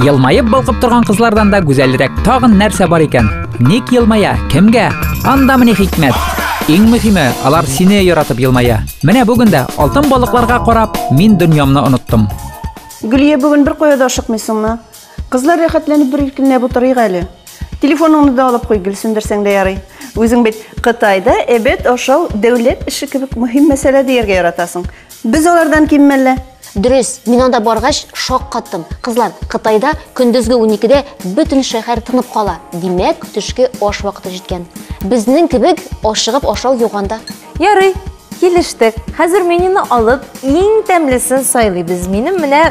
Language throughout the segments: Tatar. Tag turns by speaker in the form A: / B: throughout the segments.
A: Елмаеп балкып торган кызлардан да гүзәлрәк тагын нәрсә бар икән? Ник елмая? Кемгә? Анда менә хикмәт. Иң мөһиме, алар сине яратып елмая. Менә бүген дә алтын балыкларга карап, мин дөньямны оныттым. Гөлия бүген бер кая да ашыкмыйсыңмы? Кызлар рәхәтләнеп бер иркенләп утырыйк әле. Телефоныңны да алып куй, гел сүндерсәң дә ярый. Үзең бит Кытайда әбәт ашау дәүләт эше кебек мөһим мәсьәлә дияргә яратасың. Без алардан ким мәллә? Дөрес, мин анда баргач шаккаттым. Кызлар, Кытайда көндезге 12-дә бөтен шәһәр тынып кала. Димәк, төшке аш вакыты җиткән. Безнең кебек ашыгып ашау юк анда. Ярый, килештек. Хәзер менюны алып, иң тәмлесен сайлыйбыз. Минем менә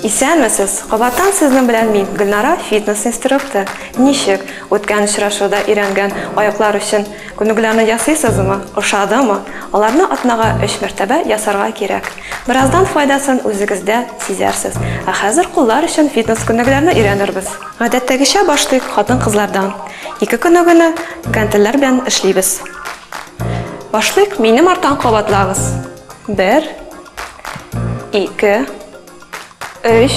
A: Исәнмесез! Кабаттан сезнең белән мин, Гөлнара, фитнес-инструктор. Ничек? Үткән очрашуда өйрәнгән аяклар өчен күнегүләрне ясыйсызмы? Ошадымы? Аларны атнага өч мәртәбә ясарга кирәк. Бераздан файдасын үзегездә сизәрсез. Ә хәзер куллар өчен фитнес-күнегүләрне өйрәнербез. Гадәттәгечә башлыйк хатын-кызлардан. Ике күнегүне гантельләр белән эшлибез. Башлыйк, минем арттан кабатлагыз. Бер. Ике. Өч.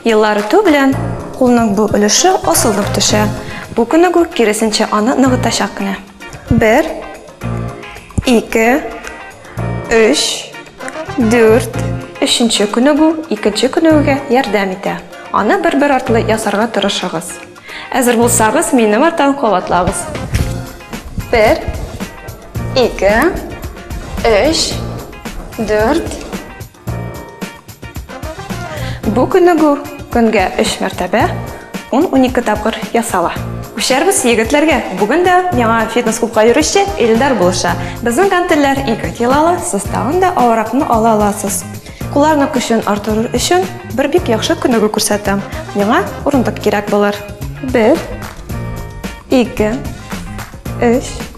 A: Еллар үтү белән кулның бу өлеше асылынып төшә. Бу күнегү киресенчә аны ныгытачак кенә. Бер. Ике. Өч. Дүрт. Өченче күнегү икенче күнегүгә ярдәм итә. Аны бер-бер артлы ясарга тырышыгыз. Әзер булсагыз, минем арттан кабатлагыз. Бер. Ике, өч, дүрт. Бу күнегү көнгә өч мәртәбә 10-12 тапкыр ясала. Күчәрбез егетләргә. Бүген дә яңа фитнес-клубка йөрүче Илдар булыша. Безнең гантельләр 2 килолы, сез тагын да авыракны ала аласыз. Кулларны көчен артырыр өчен бер бик яхшы күнегү күрсәтәм. Миңа урындык кирәк булыр. 1 2 3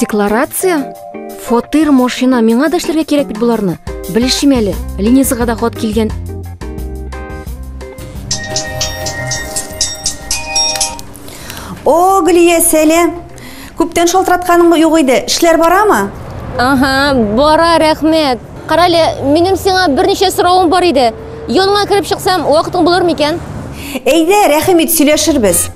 A: Декларация? Фатир, машина, миңа да эшләргә кирәк бит буларны. Белешим әле, Ленизага да хат килгән. О, Глия, сәлам! Күптән шалтыратканың юк иде. Эшләр барамы? Ага, бара, рәхмәт. Карале, минем сиңа берничә соравым бар иде. Йонга кереп чыксам, вакытың булыр микән? Әйдә, рәхим ит, сөйләшербез.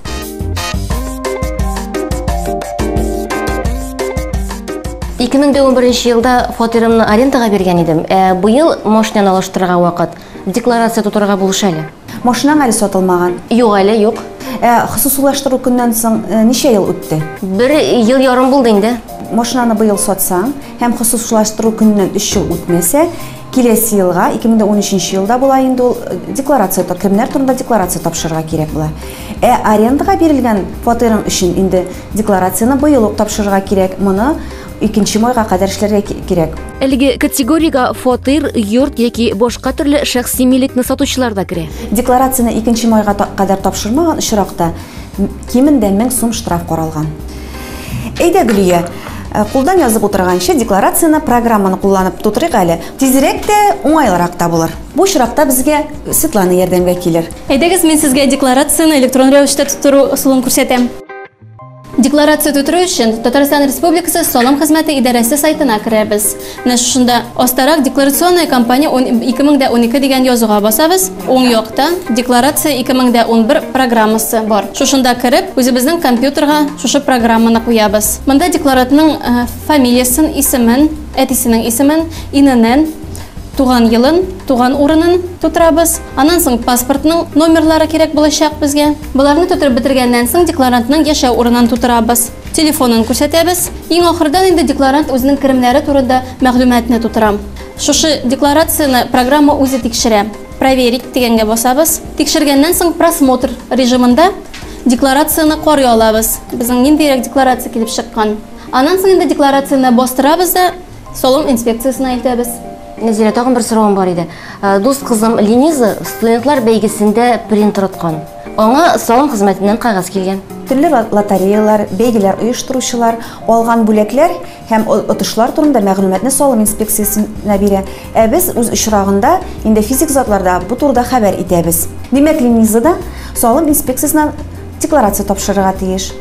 A: Ике мең дә унберенче елда фатирымны арендага биргән идем. Ә быел машинаны алыштырырга вакыт. Декларация тутырырга булыш әле. Машинаң әле сатылмаган? Юк әле, юк. Ә хосусыйлаштыру көннән соң ничә ел үтте? Бер ел ярым булды инде. Машинаны быел сатсаң һәм хосусыйлаштыру көннән өч ел үтмәсә, киләсе елга, 2013 елда була инде ул, декларация кемнәр турында декларация тапшырырга кирәк була. Ә арендага бирелгән фатирың өчен инде декларацияне быел ук тапшырырга кирәк. Моны Икенче майга кадәр эшләргә кирәк. Әлеге категориягә фатир, йорт яки башка төрле шәхси милекне сатучылар да керә. Декларацияне икенче майга кадәр тапшырмаган очракта кимендә 1000 сум штраф каралган. Әйдә, Гөлия, э, кулдан язып утырганчы, декларацияне программаны кулланып тутырыйк әле. Тизрәк тә, уңайлырак та булыр. Бу очракта безгә Светлана ярдәмгә килер. Әйдәгез, мин сезгә декларацияне электрон рәвештә тутыру ысулын күрсәтәм. Декларация тутыру өчен Татарстан Республикасы салым хезмәте идарәсе сайтына керәбез. Менә шушында астарак декларационная кампания 2012 дигән язуга басабыз. Уң якта декларация 2011 программасы бар. Шушында кереп, үзебезнең компьютерга шушы программаны куябыз. Монда декларантның э, фамилиясен, исемен, әтисенең исемен, иненен, туган елын, туган урынын тутырабыз. Аннан соң паспортның номерлары кирәк булачак безгә. Боларны тутырып бетергәннән соң декларантның яшәү урынын тутырабыз. Телефонын күрсәтәбез. Иң ахырдан инде декларант үзенең керемнәре турында мәгълүматны тутыра. Шушы декларацияне программа үзе тикшерә. Проверить дигәнгә басабыз. Тикшергәннән соң просмотр режимында декларацияне карый алабыз. Безнең ниндирәк декларация килеп чыккан. Аннан соң инде декларацияне бастырабыз да Салым инспекциясенә илтәбез. Нәзирә, тагын бер соравым бар иде. Э, дус кызым Лениза студентлар бәйгесендә принтер откан. Аңа салым хезмәтеннән кагаз килгән. Төрле лотереялар, бәйгеләр оештыручылар алган бүләкләр һәм отышлар турында мәгълүматны салым инспекциясенә бирә. Ә без үз очрагында инде физик затларда бу турыда хәбәр итәбез. Димәк, Лениза да салым инспекциясенә Декларация тапшырырга тиеш.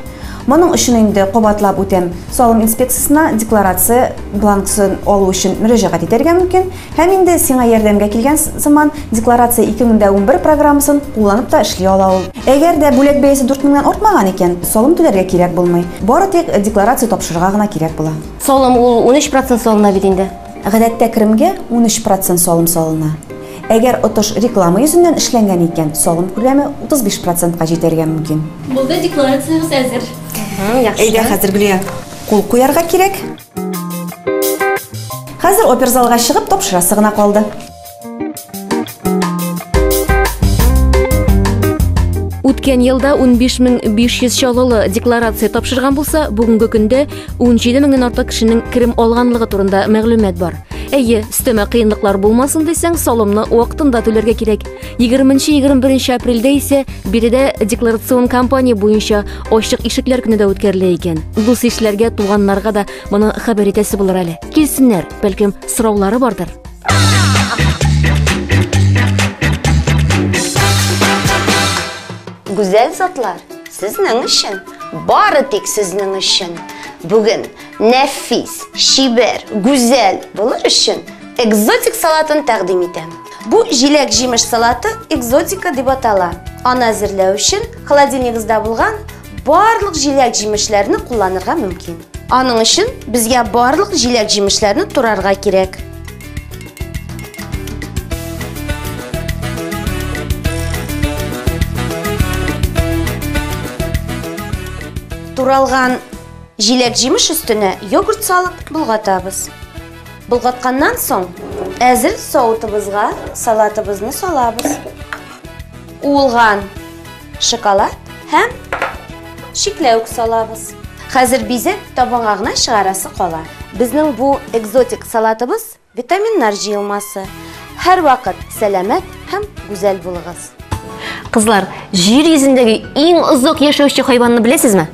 A: Моның өчен инде кабатлап үтәм, салым инспекциясенә декларация бланксын алу өчен мөрәҗәгать итәргә мөмкин. Һәм инде сиңа ярдәмгә килгән сыман, Декларация 2011 программасын кулланып та эшли ала ул. Әгәр дә бүләк бәясе 4 меңнән артмаган икән, салым түләргә кирәк булмый. Бары тик декларация тапшырырга гына кирәк була. Салым ул унөч процент салына бит инде. Гадәттә керемгә унөч процент салым салына. Әгәр отыш реклама йөзеннән эшләнгән икән, салым күләме утыз биш процентка җитәргә мөмкин. Булды, декларациягез әзер. Әйдә, хәзер генә кул куярга кирәк. Хәзер оперзалга чыгып тапшырасы гына калды. Үткән елда 15500 чаллылы декларация тапшырган булса, бүгенге көндә 17 меңнән артык кешенең керем алганлыгы турында мәгълүмат бар. Әйе, өстәмә кыенлыклар булмасын дисәң, салымны вакытында түләргә кирәк. 20-21 апрельдә исә биредә декларацион кампания буенча ачык ишекләр көне дә үткәрелә икән. Дус ишләргә, туганнарга да моны хәбәр итәсе булыр әле. Килсеннәр, бәлкем, сораулары бардыр. Гүзәл затлар, сезнең өчен, бары тик сезнең өчен. Бүген нәфис, шибәр, гүзәл булыр өчен экзотик салатын тәкъдим итәм. Бу җиләк-җимеш салаты экзотика дип атала. Аны әзерләү өчен холодильнигызда булган Барлык җиләк-җимешләрне кулланырга мөмкин. Аның өчен безгә барлык җиләк-җимешләрне турарга кирәк. Туралган җиләк-җимеш өстенә йогурт салып болгатабыз. Болгатқаннан соң әзер соутыбызга салатыбызны салабыз. Уылган Шоколад һәм шикләвек салабыз. Хәзер бизәк табынга гына чыгарасы кала. Безнең бу экзотик салатыбыз витаминнар җыелмасы. Һәрвакыт сәламәт һәм гүзәл булыгыз. Кызлар, җир йөзендәге иң озак яшәүче хайванны беләсезме?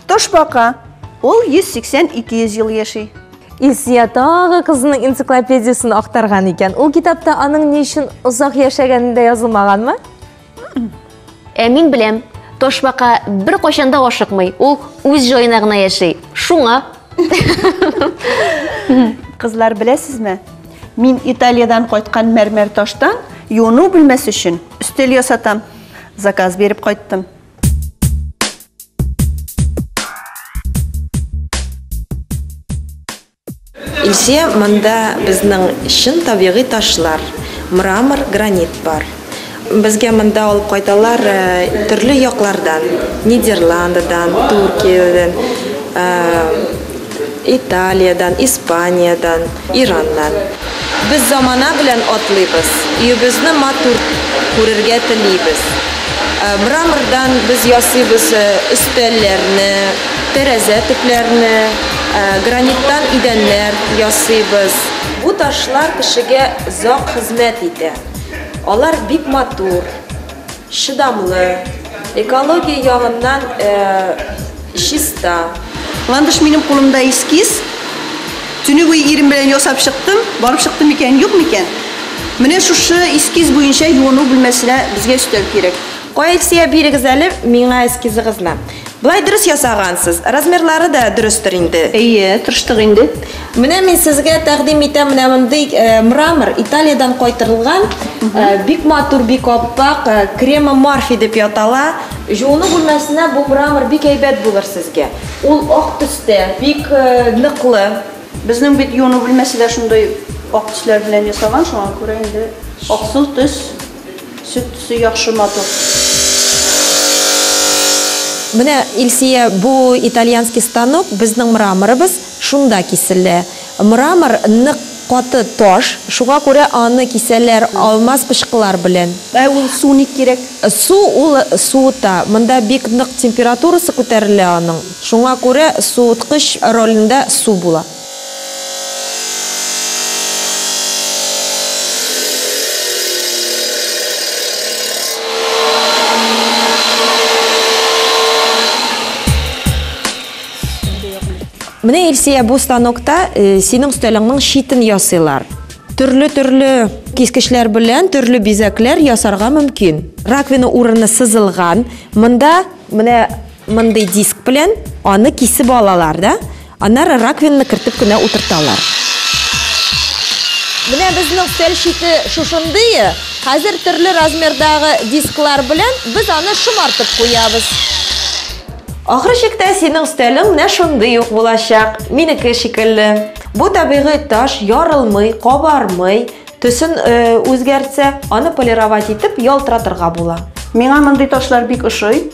A: Тошбака. Ул 180-200 ел яши. Илсия тагы кызының энциклопедиясен актарган икән. Ул китапта аның ни өчен озак яшәгәне дә язылмаганмы? Ә мин беләм, ташбака бер кайчан да ашыкмый, ул үз җаена гына яши. Шуңа. Кызлар беләсезме? Мин Италиядән кайткан мәрмәр таштан юыну бүлмәсе өчен өстәл ясатам. Заказ биреп кайттым. Илсөя, монда безнең чын табигый ташлар, мрамор, гранит бар. Безгә монда алып кайталар төрле яклардан, Нидерландыдан, Төркиядән, Италиядән, Испаниядән, Ираннан. Без замана белән атлыйбыз, өебезне матур күрергә телибез. Мрамордан без ясыйбыз өстәлләрне, тәрәзә төпләрне, граниттан идәннәр ясыйбыз. Бу ташлар кешегә озак хезмәт итә. Алар бик матур, Чыдамлы, экология ягыннан чиста. Ландыш минем кулымда эскиз. Төнебуе ирем белән ясап чыктым. Барып чыкты микән, юк микән? Менә шушы эскиз буенча юыну бүлмәсенә безгә өстәл кирәк. Кая Илсөя, бирегез әле миңа эскизыгызны. Болай дөрес ясагансыз. Размерлары да дөрестер инде. Әйе, тырыштык инде. Менә мин сезгә тәкъдим итәм менә мондый мрамор, Италиядән кайтырылган, бик матур, бик аппак, крема Марфи дип ятала. Җууну бүлмәсенә бу мрамор бик әйбәт булыр сезгә. Ул ак төстә, бик ныклы. Безнең бит юыну бүлмәсе дә шундый ак төсләр белән ясалган, шуңа күрә инде аксыл төс. Сөт төсе яхшы матур. Менә, Илсия, бу итальянский станок, безнең мраморыбыз шунда киселә. Мрамор нык каты таш, шуңа күрә аны кисәләр алмаз пычкылар белән. Ә ул су ник кирәк? Су ул суыта, монда бик нык температурасы күтәрелә аның, шуңа күрә суыткыч ролендә су була. Менә Илсия бу станокта э, синең өстәлеңнең шитен ясыйлар. Төрле-төрле кискечләр белән төрле бизәкләр ясарга мөмкин. Раковина урыны сызылган. Монда менә Мондый диск белән аны кисеп алалар да, аннары раковинаны кертеп кенә утырталар. Менә безнең өстәл чите шушындые. Хәзер төрле размердагы дисклар белән без аны шомартып куябыз. Ахыр чиктә синең өстәлең менә шундый ук булачак, минеке шикелле. Бу табигый таш, ярылмый, кабармый, төсен үзгәртсә, аны полировать итеп ялтыратырга була. Миңа мондый ташлар бик ошый.